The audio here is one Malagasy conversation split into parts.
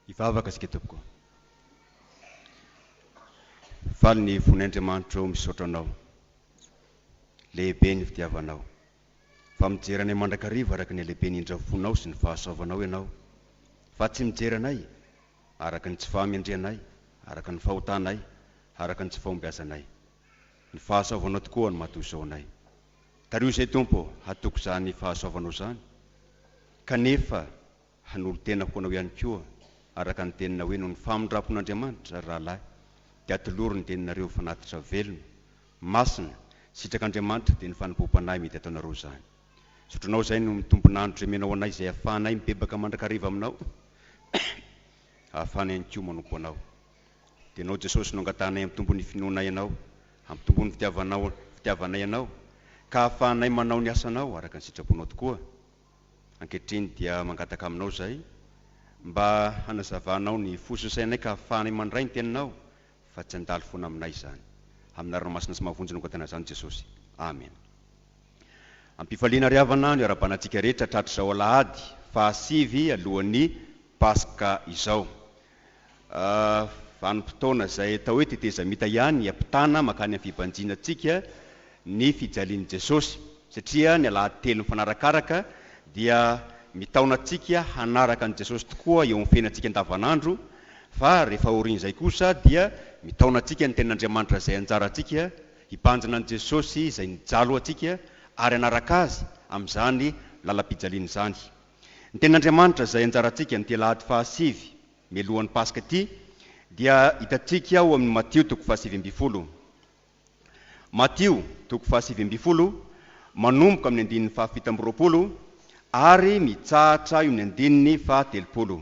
Hivavaka isika tompoko. Faly ny fon' Andriamanitro misaotra anao. Lehibe ny fitiavanao. Fa mijery anay mandrakariva araka ny halehiben' indra fonao sy ny fahasoavanao ianao. Fa tsy mijery anay araka ny tsy fahamendrehanay, araka ny fahotanay, araka ny tsy fahombiazanay. Ny fahasoavanao tokoa no maha toy izao anay. Tario izay Tompo ô, hatoky izany fahasoavanao izany, kanefa hanolo-tena ho Anao ihany koa araka ny Teninao hoe noho ny famindrampon'Andriamanitra, ry rahalahy, dia atolory ny Teninareo fanatitra velona, masina, sitrak'Andriamanitra dia ny fanompoam-panahy mety ataonareo izany. Zotronao izay no mitombin'andro izay omenao anay izay ahafahanay mibebaka mandrakariva Aminao, ahafahana ihany koa manompo Anao. Dia Ianao Jesosy no angatahanay hampitombo ny finoanay Anao, hampitombo ny fitiavanao fitiavanay Anao, ka hahafahanay manao ny asanao araka ny sitraponao tokoa. Ankehitriny dia mangataka Aminao izahay mba hanazavanao ny fo sy ny sainay ka hahafahanay mandray ny Teninao fa tsy handalo foana aminay izany. Amin'ny anarana masina sy mahavonjy no angatahina izany Jesosy. Amen. Am-pifaliana ry havana no iarabanantsika rehetra tratry izao alahady faha sivy alohan'ny Paska izao. Vanim-potoana izay atao hoe tetezamita ihany hampitana mankany amin'ny fibanjina antsika ny fijalian'i Jesosy, satria ny alahady telo mifanarakaraka dia mitaona antsika hanaraka an'i Jesosy tokoa eo amin'ny fiainantsika andavanandro, fa rehefa aorian'izay kosa dia mitaona antsika ny Tenin'Andriamanitra izay anjarantsika hibanjina an'i Jesosy izay nijalo antsika ary hanaraka Azy amin'izany lalam-pijaliana izany. Ny Tenin'Andriamanitra izay anjarantsika amin'ity alahady fahasivy mialohan'ny Paska ity dia hitantsika ao amin'ny Matio toko fahasivy ambin'ny folo. Matio toko fahasivy ambin'ny folo manomboka amin'ny andininy fahafito amby roapolo ary mitsahatra eo amin'ny andininy fahatelopolo.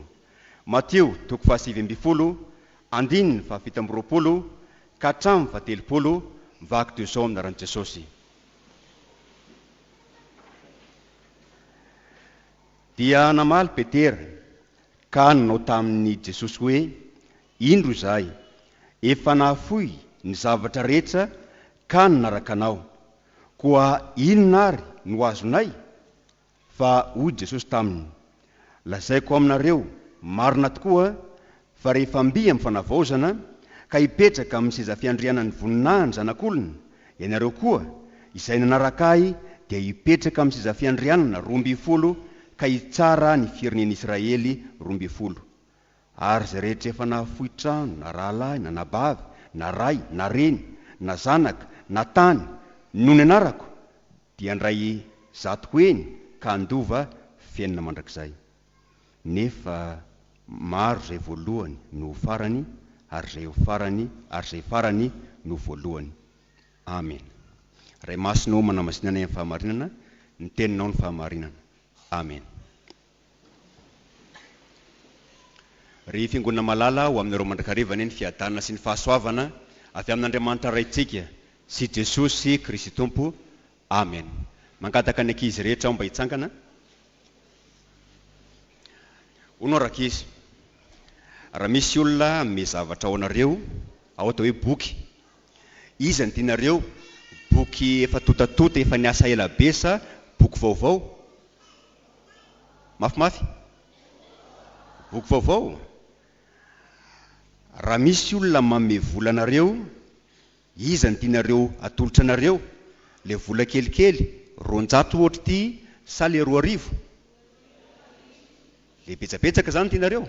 Matio toko fahasivy ambin'ny folo andininy fahafito amby roapolo ka hatramin'ny fahatelopolo vaky toy izao ny anaran'i Jesosy. Dia namaly Petera, ka nanao taminy Jesosy hoe, Indro izahay, efa nahafoy ny zavatra rehetra ka nanaraka Anao, koa inona ary no azonay? Fa hoy Jesosy taminy, Lazaiko aminareo marina tokoa fa rehefa mby amin'ny fanavaozana ka hipetraka amin'ny seza fiandrianan'ny voninahiny Zanak'olona, ianareo koa, izay nanaraka ahy, dia hipetraka amin'ny seza fiandrianana roa ambin'ny folo ka hitsara ny firenen'Israely roa ambin'ny folo. Ary izay rehetra efa nahafoy trano, na rahalahy, na anabavy, na ray, na reny, na zanaka, na tany, noho ny anarako, dia handray zato heny ka handova fiainana mandrakizay. Nefa maro izay voalohany no ho farany, ary izay ho farany, ary izay farany no ho voalohany. Amena. Ray Masina ô, manamasinanay amin'ny fahamarinana, ny Teninao no fahamarinana. Amena. Ry Fiangonana malala, ho aminareo mandrakariva anie ny fiadanana sy ny fahasoavana avy amin'Andriamanitra Raintsika sy Jesosy Kristy Tompo. Amen. Mangataka ny ankizy rehetra aho mba hitsangana. Hono rankizy, raha misy olona hanome zavatra ho anareo, ao dia hoe boky. Iza no tianareo, boky efa tontatota, efa niasa ela be sa boky vaovao? mafimafy. Boky vaovao. Raha misy olona manome vola anareo, iza no tianareo atolotra anareo? Ilay vola kelikely, roanjato ohatra ity sa ilay roa arivo? Ilay betsabetsaka izany no tianareo?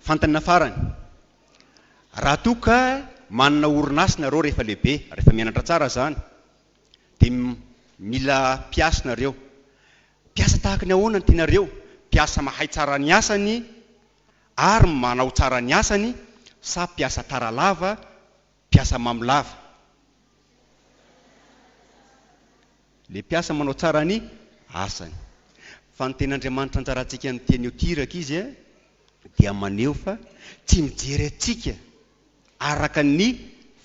Fantanina farany. Raha toa ka manana orinasa ianareo rehefa lehibe, rehefa mianatra tsara izany. Dia mila mpiasa nareo. Mpiasa tahaka ny ahoana ny tianareo? Mpiasa mahay tsara ny asany ary manao tsara ny asany sa mpiasa tara lava, mpiasa mamo lava? Ilay mpiasa manao tsara ny asany. Fa ny tenin'Andriamanitra anjarantsika amin'ny teny io tiraka izy dia maneho fa tsy mijery antsika araka ny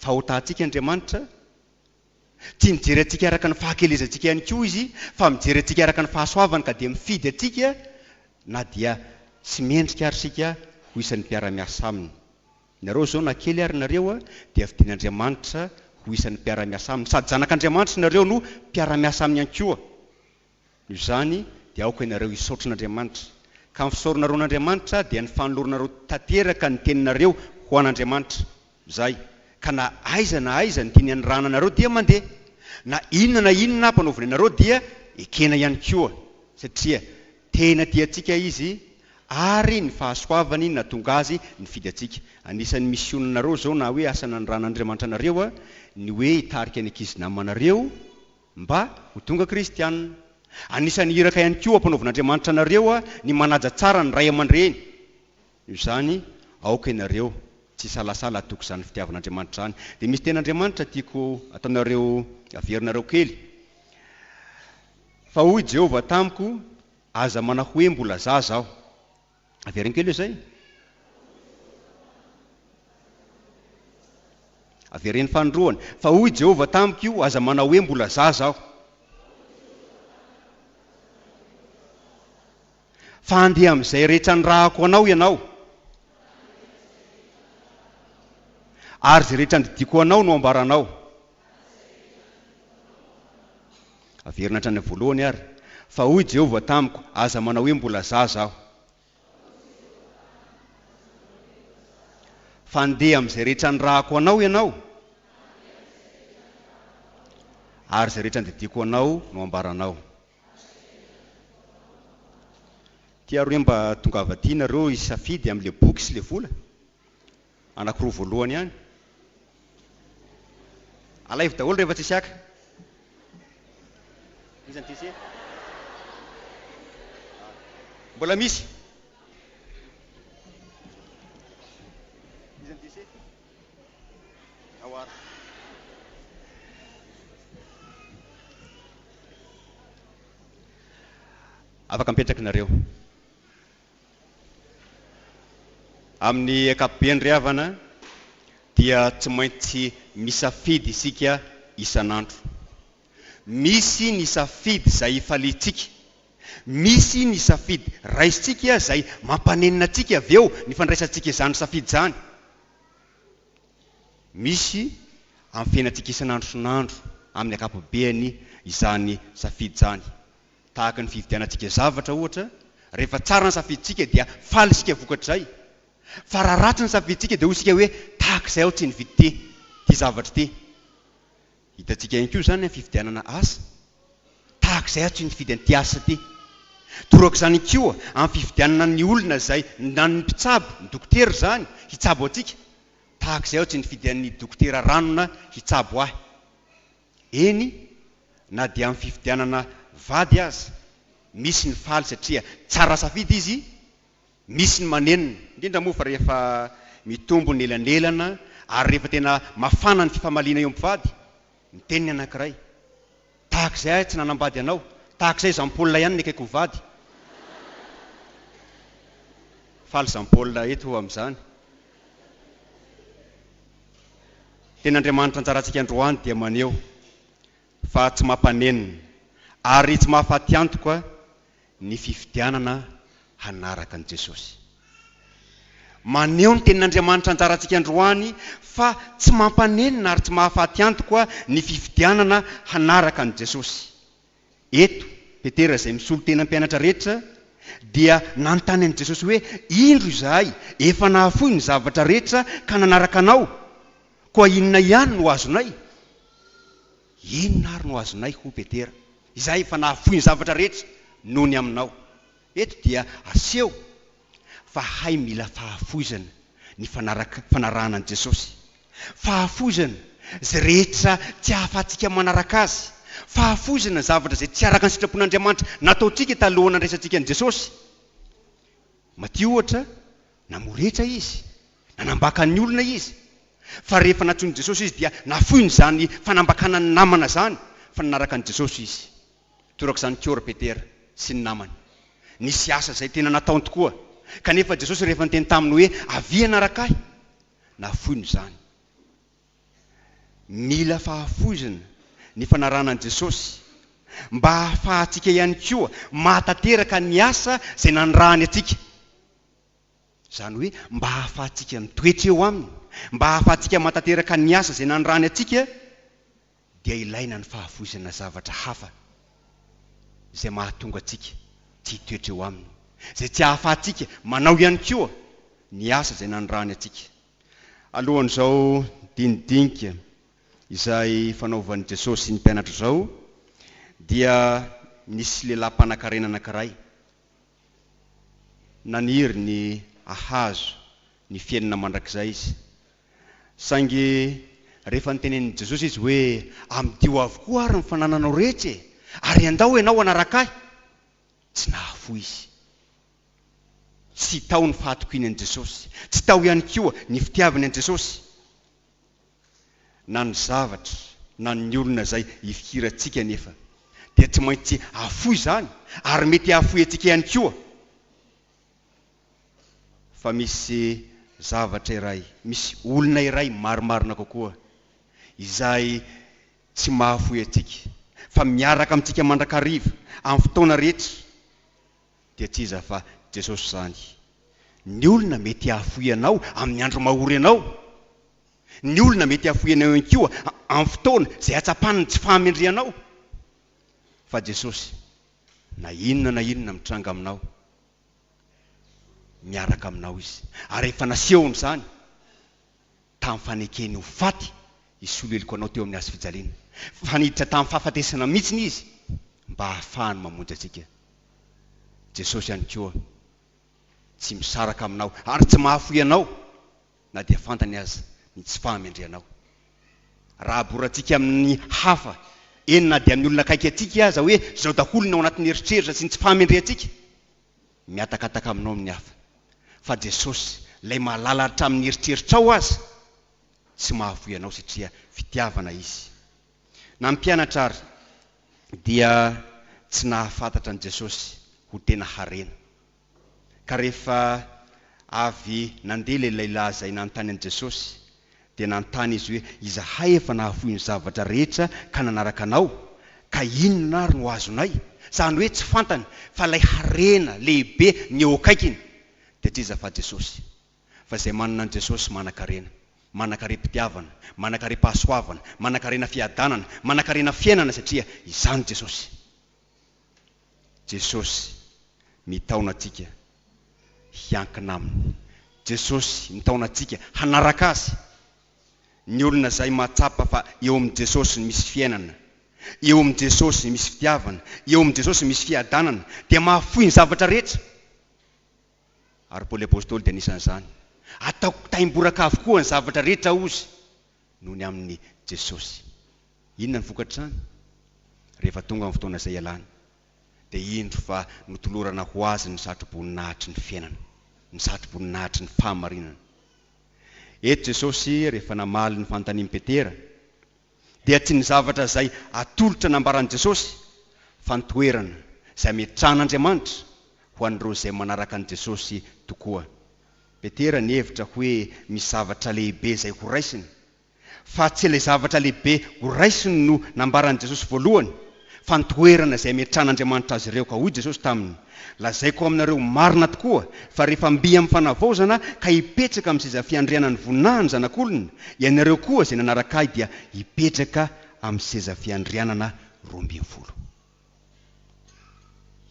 fahotantsika Andriamanitra Tia mijery antsika araka ny fahakelezantsika ihany koa Izy, fa mijery antsika araka ny fahasoavany ka dia mifidy antsika na dia tsy mendrika ary isika ho isan'ny mpiara-miasa Aminy. Nareo izao na kely ary nareo dia fidin'Andriamanitra ho isan'ny mpiara-miasa Aminy. Sady zanak'Andriamanitra nareo no mpiara-miasa Aminy ihany koa. Noho izany dia aoka ianareo hisaotran'Andriamanitra. Ka ny fisaoranareo an'Andriamanitra dia ny fanoloranareo tanteraka ny teninareo ho an'Andriamanitra. Izay. Ka na aiza na aiza ny tiany hanirahana anareo dia mandeha. Na inona na inona ampanaoviny anareo dia ekena ihany koa. Satria tena tia antsika Izy ary ny fahasoavany nahatonga Azy nifidy antsika. Anisan'ny misionanareo izao na hoe asa nanirahan'Andriamanitra anareo ny hoe hitarika ny ankizy namanareo Mba ho tonga kristiana. Anisan'ny iraka ihany koa ampanaovin'Andriamanitra anareo ny manaja tsara ny ray aman-dreny. Noho izany, aoka ianareo tsy hisalasala hatoky izany fitiavan'Andriamanitra izany. Dia misy tenin'Andriamanitra tiako ataonareo averinareo kely. Fa hoy Jehovah tamiko, Aza manahoe mbola zaza aho. Avereno kely hoe zay. Avereno fanindroany. Fa hoy Jehovah tamiko io, Aza manao hoe, Mbola zaza aho. Fa handeha amin'izay rehetra nirahako anao ianao. Ary izay rehetra andidiako ho anao no hambaranao. Averina hatrany amin'ny voalohany àry. Fa hoy Jehovah tamiko, Aza manao hoe, Mbola zaza aho. Fa ndeha amin'izay rehetra nirahako anao ianao, ary izay rehetra nodidiako anao no hambaranao. Tiaro hoe mba tongava aty nareo hisafidy amin'ilay boky sy ilay vola? Anakiroa voalohany ihany. Alaivo daholo rehefa tsisy haka. Iza no te hiseho? Mbola misy. Iza no te hiseho? Ao ary. Afaka mipetraka nareo. Amin'ny ankapobeny ry havana dia tsy maintsy misafidy isika isan'andro. Misy ny safidy izay ifaliantsika, misy ny safidy raisintsika izay mampanenina antsika avy eo ny fandraisantsika izany safidy izany. Misy amin'ny fiainantsika isan'andro isan'andro amin'ny ankapobeny izany safidy izany. Tahaka ny fividianantsika zavatra, ohatra, rehefa tsara ny safidintsika dia faly isika vokatr'izay, fa raha ratsy ny safidintsika dia hoy isika hoe tahaka izay aho tsy nividy ty ty zavatra ity. Hitantsika ihany koa izany amin'ny fividianana asa, tahaka izay aho tsy nifidy an'ity asa ity. Toraka izany koa amin'ny fividianana ny olona izay, na ny mpitsabo, ny dokotera izany, hitsabo antsika, tahaka izay aho tsy nifidy an'ny dokotera ranona hitsabo ahy. Eny na dia amin'ny fifidianana vady aza, misy ny faly satria tsara safidy izy, misy ny manenina, indrindra moa fa rehefa mitombo ny elanelana ary rehefa tena mafana ny fifamaliana eo mpivady, miteny ny anankiray, tahak'izay aho tsy nanambady anao, tahak'izay Jean Paul ihany ny akaiky ho vady. Faly Jean Paul eto amin'izany. Teny Andriamanitra anjarantsika androany dia maneho fa tsy mampanenina ary tsy mahafaty antoka ny fifidianana hanaraka an'i Jesosy. Maneho ny Tenin' Andriamanitra anjarantsika androany fa tsy mampanenina ary tsy mahafaty antoka ny fifidianana hanaraka an'i Jesosy. Eto, Petera izay misolo tena mpianatra rehetra dia nanontany an'i Jesosy hoe, Indro izahay efa nahafoy ny zavatra rehetra ka nanaraka Anao, koa inona ihany no azonay? Inona ary no azonay, hoy Petera, izahay efa nahafoy ny zavatra rehetra noho ny Aminao? Eto dia aseho Fa hay mila fahafoizana ny fanaraka fanarahana an'i Jesosy. Fahafoizana izay rehetra tsy ahafahantsika manaraka Azy. Fahafoizana ny zavatra izay tsy araka ny sitrapon'Andriamanitra nataontsika taloha nandraisantsika an'i Jesosy. Matio ohatra, namoretsa Izy, nanambaka ny olona Izy. Fa rehefa nantsoin'i Jesosy Izy dia nafoiny izany fanambakana ny namana izany fa nanaraka an'i Jesosy Izy. Toraka izany koa ry Petera sy ny namany. Nisy asa izay tena nataony tokoa, kanefa Jesosy rehefa niteny taminy hoe, Avia hanaraka Ahy, nafoiny izany. Mila fahafoizana ny fanarahana an'i Jesosy, mba hahafahantsika ihany koa mahatanteraka ny asa izay nanirahany antsika. Izany hoe, mba hahafahantsika mitoetra eo Aminy, mba hahafahantsika mahatanteraka ny asa izay nanirahany antsika. dia ilaina ny fahafoizana zavatra hafa izay mahatonga antsika tsy hitoetra eo aminy, izay tsy hahafahantsika manao ihany koa ny asa izay nanirahany antsika. Alohan'izao dinidinika izay fanaovan'i Jesosy sy ny mpianatra izao, dia nisy lehilahy mpanankarena anankiray naniry ny hahazo ny fiainana mandrakizay izy. Saingy rehefa notenenin'i Jesosy izy hoe, Amidio avokoa àry ny fanananao rehetra e, ary endao ianao hanaraka ahy! tsy nahafoy izy. Tsy tao ny fahatokiany an'i Jesosy. Tsy tao ihany koa ny fitiavany an'i Jesosy, na ny zavatra, na ny olona izay ifikirantsika anefa dia tsy maintsy hahafoy izany, ary mety hahafoy antsika ihany koa. fa misy zavatra iray, misy olona iray marimarina kokoa, izay tsy mahafoy antsika, fa miaraka amintsika mandrakariva, amin'ny fotoana rehetra, dia tsy iza fa Jesosy izany. Ny olona mety hahafoy anao amin'ny andro mahory anao. Ny olona mety hahafoy anao ihany koa amin'ny fotoana izay hatsapany ny tsy fahamendrehanao. Fa Jesosy, na inona na inona mitranga aminao, miaraka aminao izy. Ary rehefa nasehony izany tamin'ny fanekeny ho faty i Soleloko anao teo amin'ny hazo fijaliana, fa niditra tamin'ny fahafatesana mihitsy izy mba hahafahany mamonjy antsika. Jesosy ihany koa tsy misaraka aminao ary tsy mahafoy anao na dia fantany aza ny tsy fahamendrehanao. Raha aborantsika amin'ny hafa, eny na dia ny olona akaiky antsika aza hoe izao daholo ny ao anatin'ny eritreritra sy ny tsy fahamendrehantsika, mihatakataka aminao ny hafa. Fa Jesosy, Ilay mahalala hatramin'ny eritreritrao aza, tsy mahafoy anao satria fitiavana Izy. Na ny mpianatra ary dia tsy nahafantatra an'i Jesosy ho tena harena. Ka rehefa avy nandeha ilay lahilahy izay nanontany an'i Jesosy, dia nanontany Izy hoe, Izahay efa nahafoy ny zavatra rehetra ka nanaraka Anao, ka inona ary no azonay? Izany hoe tsy fantany fa ilay harena lehibe ny eo akaikiny. Dia tsy iza fa Jesosy. Fa izay manana an'i Jesosy manan-karena. Manan-karem-pitiavana, manan-karem-pahasoavana, manan-karena fiadanana, manan-karena fiainana satria izany Jesosy. Jesosy mitaona antsika hiankina Aminy. Jesosy mitaona antsika hanaraka Azy. Ny olona izay mahatsapa fa eo amin'i Jesosy no misy fiainana, eo amin'i Jesosy no misy fitiavana, eo amin'i Jesosy no misy fiadanana, dia mahafoy ny zavatra rehetra. Ary Paoly Apostoly dia anisan'izany. Ataoko taimboraka avokoa ny zavatra rehetra, hozy, noho ny amin'i Jesosy. Inona ny vokatr'izany? Rehefa tonga ny fotoana izay ialany, dia indro fa notolorana ho Azy ny satroboninahitry ny fiainana, ny satroboninahitry ny fahamarinana. Eto Jesosy, rehefa namaly ny fanontanian'i Petera, dia tsy ny zavatra izay atolotra nambaran'i Jesosy, fa ny toerana izay ametrahan'Andriamanitra ho an'ireo izay manaraka an'i Jesosy tokoa. Petera nihevitra hoe misy zavatra lehibe izay horaisiny. Fa tsy ilay zavatra lehibe horaisiny no nambaran'i Jesosy voalohany, fa ny toerana izay hametrahan'Andriamanitra azy ireo. Ka hoy Jesosy taminy, Lazaiko aminareo marina tokoa, fa rehefa mby amin'ny fanavaozana ka hipetraka amin'ny seza fiandrianan'ny voninahin'ny Zanak'olona, ianareo koa izay nanaraka ahy dia hipetraka amin'ny seza fiandrianana roa ambin'ny folo.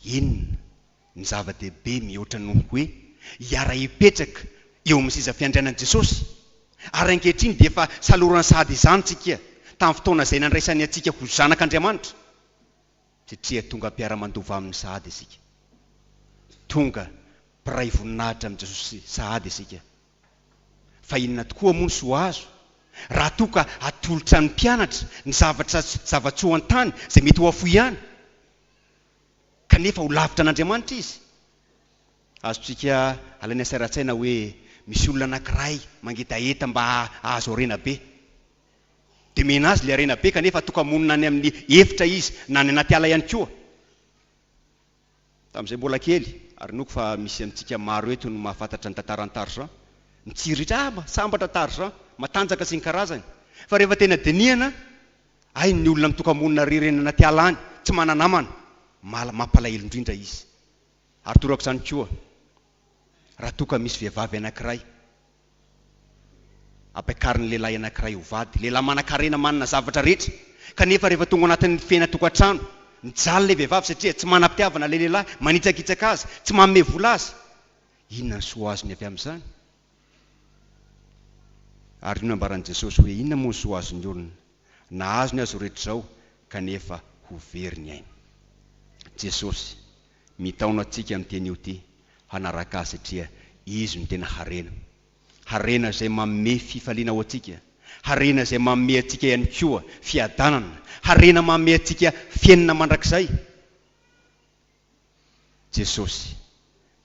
Inona? Ny zava-dehibe mihoatra noho ny hoe hiara-hipetraka eo amin'ny seza fiandrianan'i Jesosy, ary ankehitriny dia efa salorany sahady izany tsika tamin'ny fotoana izay nandraisany antsika ho zanak'Andriamanitra, satria tonga mpiara-mandova aminy sahady isika. Tonga mpiray voninahitra amin'i Jesosy sahady isika. Fa inona tokoa moa ny soa azo raha toa ka atolotra ny mpianatra ny zavatra sy zava-tsoa an-tany izay mety ho afoy ihany? kanefa ho lavitra an'Andriamanitra izy. Azontsika alaina saira an-tsaina hoe misy olona anankiray mangetaheta mba hahazo harena be. Dia omena azy ilay harena be, kanefa toka-monina any amin'ny efitra izy, na any anaty ala ihany koa. Tamin'izahay mbola kely, ary inoako fa misy amintsika maro eto no mahafantatra ny tantaran'i Tarzan, mitsiriritra, ah, sambatra Tarzan, matanjaka sy ny karazany. Fa rehefa tena dinihana, Hay ny olona mitoka-monina irery eny anaty ala any, tsy mana-namana, mahala mampalahelo indrindra izy. Ary toraka izany koa raha toa ka misy vehivavy anankiray ampiakarin'ny lehilahy anankiray ho vady, lehilahy manan-karena, manana zavatra rehetra, kanefa rehefa tonga ao anatin'ny fiainan-tokantrano, mijaly ilay vehivavy satria tsy manam-pitiavana ilay lehilahy, manitsakitsaka azy, tsy manome vola azy. Inona ny soa azony avy amin'izany? Ary io nambaran'i Jesosy hoe inona moa ny soa azon'ny olona? Na azony aza rehetra izao kanefa ho very ny ainy. Jesosy mitaona antsika amin'ny teny io ity hanaraka Azy satria Izy no tena harena. Harena izay manome fifaliana ho antsika. Harena izay manome antsika ihany koa fiadanana. Harena manome antsika fiainana mandrakizay. Jesosy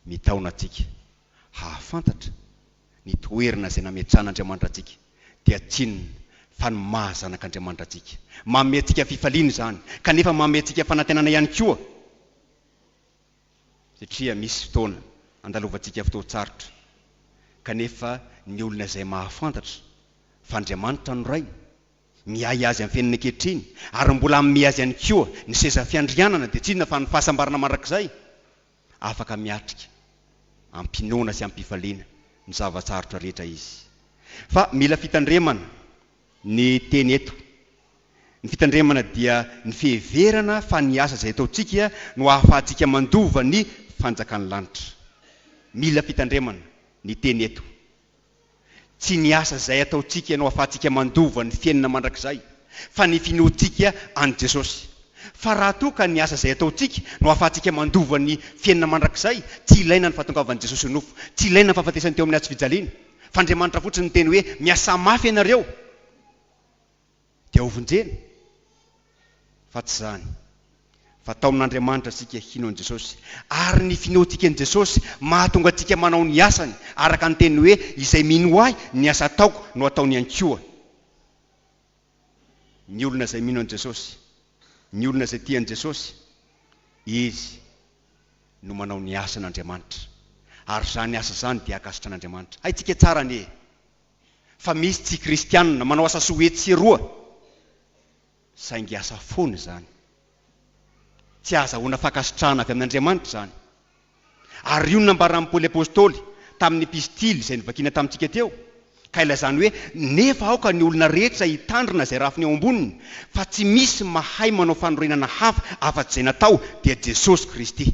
mitaona antsika hahafantatra ny toerana izay nametrahan'Andriamanitra antsika dia tsinona fa ny maha zanak'Andriamanitra antsika. Manome antsika fifaliana izany kanefa manome antsika fanantenana ihany koa satria misy fotoana andalovantsika fotoan-tsarotra kanefa ny olona izay mahafantatra fa Andriamanitra no Rainy Miahy azy afenina ankehitriny ary mbola hanome azy ihany koa ny seza fiandrianana dia tsy inona fa ny fahasambarana mandrakizay. Afaka miatrika am-pinoana sy am-pifaliana ny zava-tsarotra rehetra izy. Fa mila fitandremana ny teny eto. Ny fitandremana dia ny fiheverana fa ny asa izay ataontsika no ahafahantsika mandova ny fanjakan'ny lanitra. Mila fitandremana ny teny eto. Tsy ny asa izay ataontsika no ahafahantsika mandova ny fiainana mandrakizay, fa ny finoantsika an'i Jesosy. Fa raha toa ka ny asa izay ataontsika no ahafahantsika mandova ny fiainana mandrakizay, tsy ilaina ny fahatongavan'i Jesosy ho nofo, tsy ilaina ny fahafatesany teo amin'ny hazo fijaliana, f'Andriamanitra fotsiny niteny hoe, Miasà mafy ianareo! Dia hovonjena? Fa tsy izany. Fa tao amin'Andriamanitra isika hino an'i Jesosy, ary ny finoantsika an'i Jesosy mahatonga antsika manao ny asany, araka ny teniny hoe, Izay mino Ahy, ny asa ataoko no ataony ihany koa. Ny olona izay mino an'i Jesosy, ny olona izay tia an'i Jesosy, izy no manao ny asan'Andriamanitra, ary izany asa izany dia ankasitrahan'Andriamanitra. Haintsika tsara anie. fa misy tsy kristianina manao asa soa etsy sy eroa, saingy asa foana izany. Tsy ahazahoana fankasitrahana avy amin'Andriamanitra izany. Ary io no nambaran'i Paoly Apostoly tamin'ny epistily izay novakiana tamintsika teo, ka ilazany hoe, Nefa aoka ny olona rehetra hitandrina izay rafiny eo amboniny, fa tsy misy mahay manao fanorenana hafa afa-tsy izay natao dia Jesosy Kristy.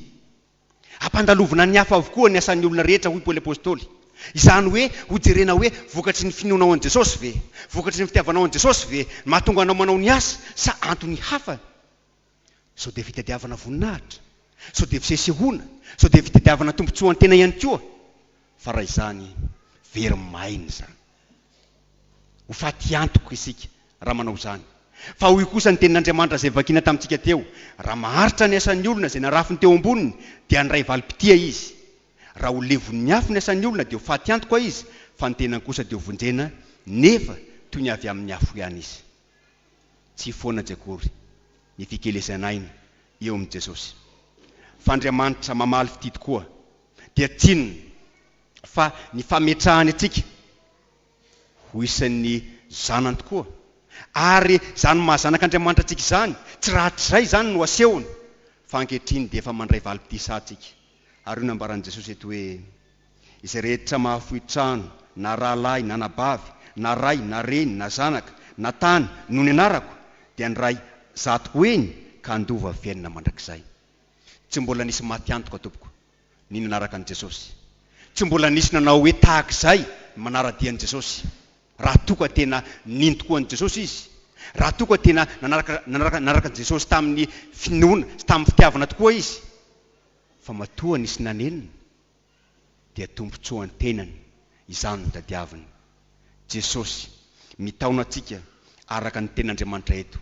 Ampandalovina ny hafa avokoa ny asan'ny olona rehetra, hoy Paoly Apostoly. Izany hoe, hojerena hoe vokatry ny finoanao an'i Jesosy ve? Vokatry ny fitiavanao an'i Jesosy ve ny mahatonga anao manao ny asa sa antony hafa? Sao dia fitadiavana voninahitra? Sao dia fisesehoana? Sao dia fitadiavana tombontsoan-tena ihany koa? Fa raha izany, very maina izany. Ho faty antoka isika raha manao izany. Fa hoy kosa ny Tenin'Andriamanitra izay vakina tamintsika teo, Raha maharitra ny asan'ny olona izay narafiny teo amboniny, dia handray valim-pitia izy. Raha ho levon'ny afo ny asan'ny olona, dia ho faty antoka izy, fa ny tenany kosa dia ho vonjena, nefa toy ny avy amin'ny afo ihany izy. Tsy foana tsy akory ny fikelesan'aina eo amin'i Jesosy. Fa Andriamanitra mamaly fitia tokoa. dia tsinona fa ny fametrahany antsika ho isan'ny zanany tokoa, ary izany maha zanak'Andriamanitra antsika izany, tsy rahatrizay izany no asehony, fa ankehitriny dia efa mandray valim-pitisa antsika. Ary io no nambaran'i Jesosy eto hoe, Izay rehetra mahafoy trano, na rahalahy, na anabavy, na ray, na reny, na zanaka, na tany, noho ny anarako, dia handray zato heny ka handova fiainana mandrakizay. Tsy mbola nisy maty antoka tompoko ny nanaraka an'i Jesosy. Tsy mbola nisy nanao hoe tahak'izay ny manara-dia an'i Jesosy. Raha toa ka tena nino tokoa an'i Jesosy izy, raha toa ka tena nanaraka nanaraka nanaraka an'i Jesosy tamin'ny finoana sy tamin'ny fitiavana tokoa izy, fa matoa nisy nanenina, dia tombontsoan-tenany izany no tadiaviny. Jesosy mitaona antsika araka ny Tenin'Andriamanitra eto.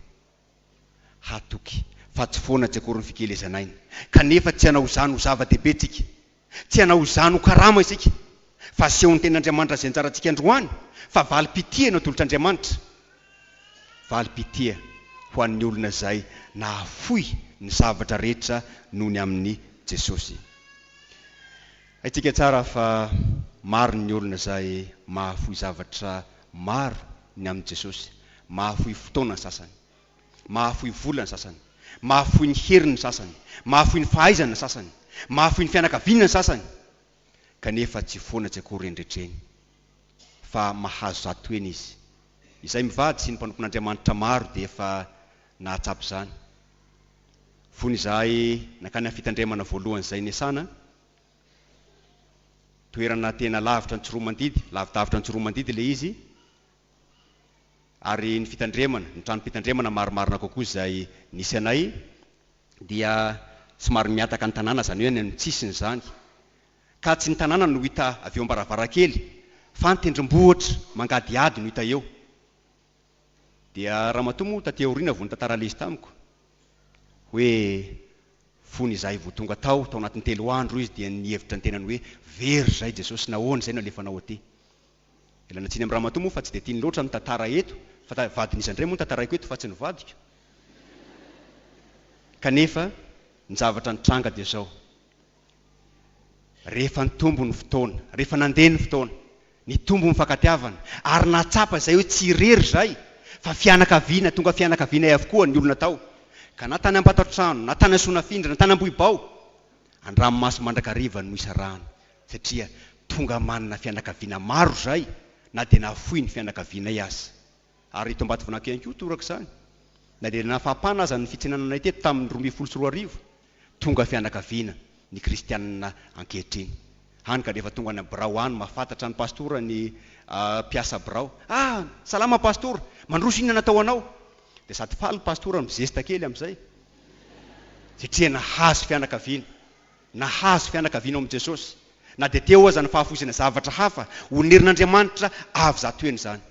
Hatoky fa tsy foana tsy akory ny fikelezan'aina, kanefa tsy hanao izany ho zava-dehibe isika, tsy hanao izany ho karama isika, fa aseho ny ten'Andriamanitra izay anjarantsika androany, fa valim-pitia no atolotr'Andriamanitra, valim-pitia ho an'ny olona izay nahafoy ny zavatra rehetra noho ny amin'i Jesosy. Haintsika tsara fa maro ny olona izay mahafoy zavatra maro ny amin'i Jesosy. Mahafoy fotoana ny sasany. Mahafoy vola ny sasany. Mahafoy ny heriny ny sasany. Mahafoy ny fahaizany ny sasany. Mahafoy ny fianakaviana ny sasany. Kanefa tsy foana tsy akory eny rehetra eny. Fa mahazo zato heny izy. Izay mivady sy ny mpanompon'Andriamanitra maro dia efa nahatsapa izany. Fony izahay nankany amin'ny fitandremana voalohany izay niasana, toerana tena lavitra antsiromandidy, lavidavitra antsiromandidy ilay izy ary ny fitandremana, ny tranom-pitandremana marimarina kokoa izay nisy anay dia somary mihataka ny tanàna izany hoe any amin'ny tsisiny izany ka tsy ny tanàna no hita avy eo am-baravarankely fa ny tendrombohitra mangadihady no hita eo. Dia ramatoa moa taty aoriana vao nitantara leisy tamiko hoe fony izahay vao tonga tao, tao anatin'ny telo andro izy dia nihevitra ny tenany hoe very izay Jesosy nahoana izay no alefanao aty. Ialana tsiny amin'i ramatoa moa fa tsy dia tiany loatra ny tantara eto fa vadin'iza indray moa no tantaraiko eto fa tsy ny vadiko? Kanefa ny zavatra nitranga dia izao, Rehefa nitombo ny fotoana, rehefa nandeha ny fotoana, nitombo ny mifankatiavana, ary nahatsapa izay hoe tsy irery izay fa fianakaviana, tonga fianakavianay avokoa ny olona tao, ka na tany Ambatotrano, na tany Soanafindra, na tany Ambohibao, an-dranomaso mandrakariva no nisarahana, satria tonga manana fianakaviana maro izay na dia nahafoy ny fianakavianay aza. Ary eto Ambatovinaky ihany koa toraka izany, na dia nafampana aza ny fitsenananay teto tamin'ny roa ambin'ny folo sy roa arivo, tonga fianakaviana ny kristianina ankehitriny. Hany ka dia efa tonga any amin'ny birao any, mahafantatra an'i Pastora ny mpiasa birao. Ah! Salama Pastora! Mandroso inona natao anao? Dia sady faly Pastora no mizesta kely amin'izay, satria nahazo fianakaviana. Nahazo fianakaviana ao amin'i Jesosy, na dia teo aza ny fahafoizana zavatra hafa ho nerin'Andriamanitra avy zato heny izany.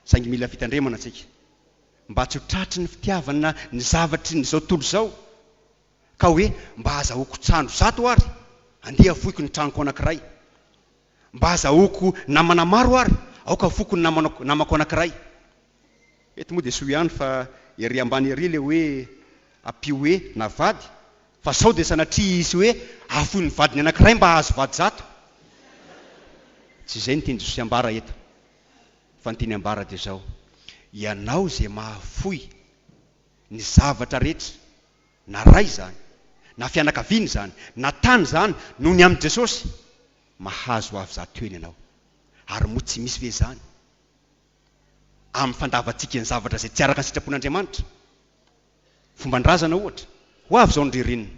Saingy mila fitandremana isika mba tsy ho tratry ny fitiavana ny zavatry ny izao tontolo izao ka hoe, Mba azahoako trano zato àry, andeha afoiko ny tranoko anankiray. Mba azahoako namana maro àry, aoka afoiko ny namako anankiray. Eto moa dia soa ihany fa ery ambany ery ilay hoe ampio hoe na vady fa sao dia sanatria hisy hoe afoy ny vadiny anankiray mba hahazo vady zato. Tsy izay ny tian'i Jesosy ambara eto fa ny tiany ambara dia izao, ianao izay mahafoy ny zavatra rehetra na ray izany na fianakaviana izany na tany izany noho ny amin'i Jesosy, mahazo avy zato heny ianao. Ary moa tsy misy ve izany? amin'ny fandavantsika ny zavatra izay tsy araka ny sitrapon'Andriamanitra. Fomba ny razana ohatra, ho avy izao ny ririnina,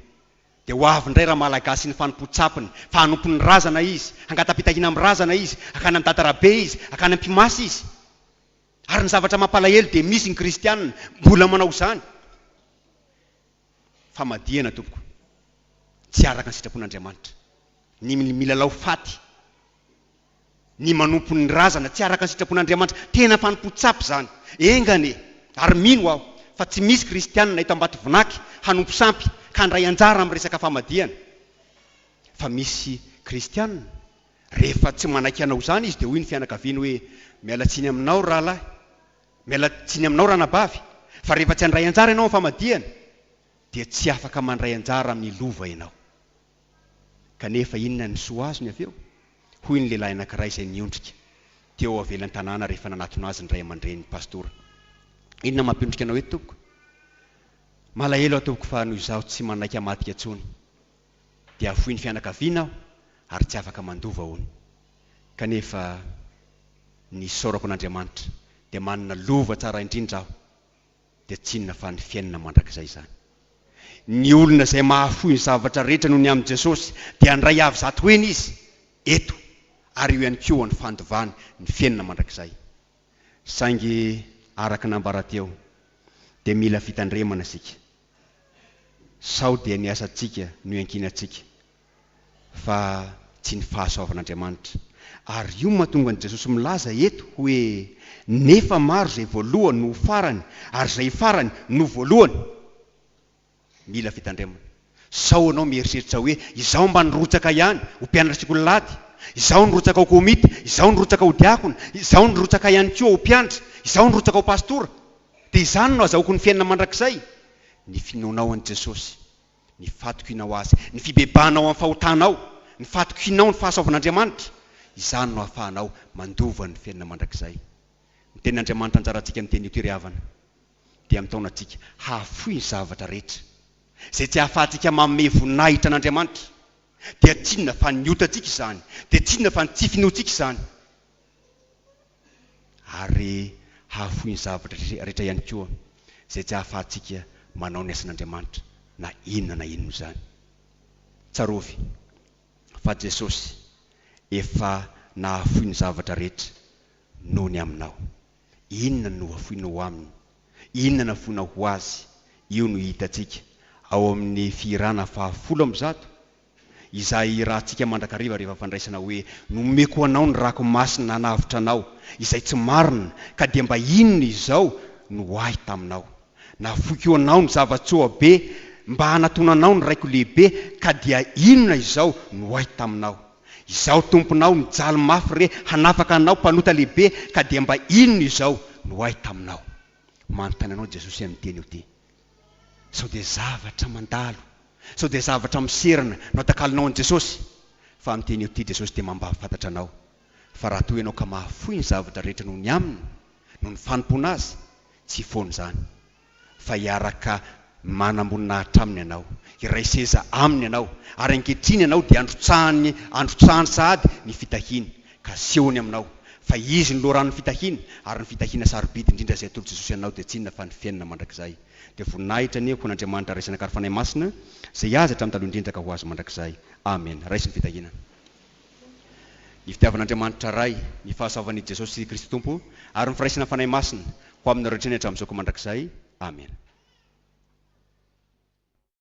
dia ho avy indray ramalagasy ny fanompoan-tsampiny, fa hanompo ny razana izy, hangata-pitahiana amin'ny razana izy, hankany amin'ny datarabe izy, hankany am-pimasy izy. Ary ny zavatra mampalahelo dia misy ny kristiana mbola manao izany. Famadihana tompoko, tsy araka ny sitrapon'Andriamanitra ny milalao faty. ny manompo ny razana tsy araka ny sitrapon'Andriamanitra, tena fanompoan-tsapy izany. Enga anie! Ary mino aho fa tsy misy kristianina eto Ambatovinaky hanompo sampy ka handray anjara amin'ny resaka famadihana. Fa misy kristianina, rehefa tsy manaiky hanao izany izy dia hoy ny fianakaviany hoe, miala tsiny aminao rahalahy, miala tsiny aminao ranabavy, fa rehefa tsy handray anjara ianao amin'ny famadihana dia tsy afaka mandray anjara amin'ny lova ianao. Kanefa inona ny soa azony avy eo? hoy ny lehilahy anankiray izay niondrika teo avelan-tanàna rehefa nanatona azy ny ray aman-drenin'ny pastora. Inona mampiondrika anao eto, tompoko? Malahelo aho, tompoko, fa noho izaho tsy manaiky hamadika intsony, dia foin'ny fianakaviana aho ary tsy afaka mandova, hono. Kanefa ny isaorako an'Andriamanitra, dia manana lova tsara indrindra aho. dia tsy inona fa ny fiainana mandrakizay izany. Ny olona izay mahafoy ny zavatra rehetra noho ny amin'i Jesosy dia handray avy zato heny izy eto ary eo ihany koa ny fandovany, ny fiainana mandrakizay. Saingy araka ny nambara teo dia mila fitandremana isika. Sao dia ny asantsika no iankinantsika fa tsy ny fahasoavan'Andriamanitra. Ary io no mahatonga an'i Jesosy milaza eto hoe, Nefa maro izay voalohany no ho farany, ary izay farany no ho voalohany. Mila fitandremana. Sao ianao mieritreritra hoe, Izaho mba nirotsaka ihany ho mpianaratsiko lalady, izaho nirotsaka ho komity, izaho nirotsaka ho diakona, izaho nirotsaka ihany koa ho mpiandry, izaho nirotsaka ho pastora, dia izany no azahoako ny fiainana mandrakizay. Ny finoanao an'i Jesosy. Ny fatokianao Azy, ny fibebahanao amin'ny fahotanao, ny fatokianao ny fahasoavan'Andriamanitra, izany no ahafahanao mandova ny fiainana mandrakizay. Ny Tenin'Andriamanitra anjarantsika amin'ny teny io Tery havana dia mitaona antsika hahafoy ny zavatra rehetra. Izay tsy ahafahantsika manome voninahitra an'Andriamanitra dia tsinona fa ny otantsika izany, dia tsinona fa ny tsy finoantsika izany. ary hahafoy ny zavatra rehetra ihany koa izay tsy ahafahantsika manao ny asan'Andriamanitra na inona na inona izany. Tsarovy fa Jesosy efa nahafoy ny zavatra rehetra noho ny aminao. Inona no nohafoinao ho Aminy? Inona nafoinao ho Azy? Io no hitantsika ao amin'ny fihirana fahafolo amby zato izay irahantsika mandrakariva rehefa fandraisana hoe, Nomeko anao ny rako masina hanavotra anao, izay tsy marina, ka dia mba inona izao no ho ahy taminao? Nafoiko anao ny zava-tsoa be mba hanatonanao ny raiko lehibe, ka dia inona izao no ho ahy taminao? Izaho tomponao mijaly mafy re hanafaka anao mpanota lehibe, ka dia mba inona izao no ho ahy taminao? Manontany anao Jesosy amin'ity anio ity. Sao dia zavatra mandalo, sao dia zavatra miserana no atakalonao an'i Jesosy? Fa amin'ny teny ity Jesosy dia mampahafantatra anao fa raha toa ianao ka mahafoy ny zavatra rehetra noho ny Aminy, noho ny fanompoana Azy, tsy foana izany. Fa hiaraka manamboninahitra Aminy ianao, hiray seza Aminy ianao, ary ankehitriny ianao dia androtsahany androtsahany sahady ny fitahiany, Kasihony aminao, fa Izy no loharanon'ny fitahiana, ary ny fitahiana sarobidy indrindra izay atolotr'i Jesosy anao dia tsy inona fa ny fiainana mandrakizay. Dia voninahitra anie ho an'Andriamanitra Ray Zanaka ary Fanahy Masina, izay azy hatramin'ny taloha indrindra ka ho azy mandrakizay. Amena. Raiso ny fitahiana. Ny fitiavan'Andriamanitra Ray, ny fahasoavan'i Jesosy Kristy Tompo, ary ny firaisan'ny Fanahy Masina, ho aminareo hatrany hatramin'izao ka mandrakizay. Amena.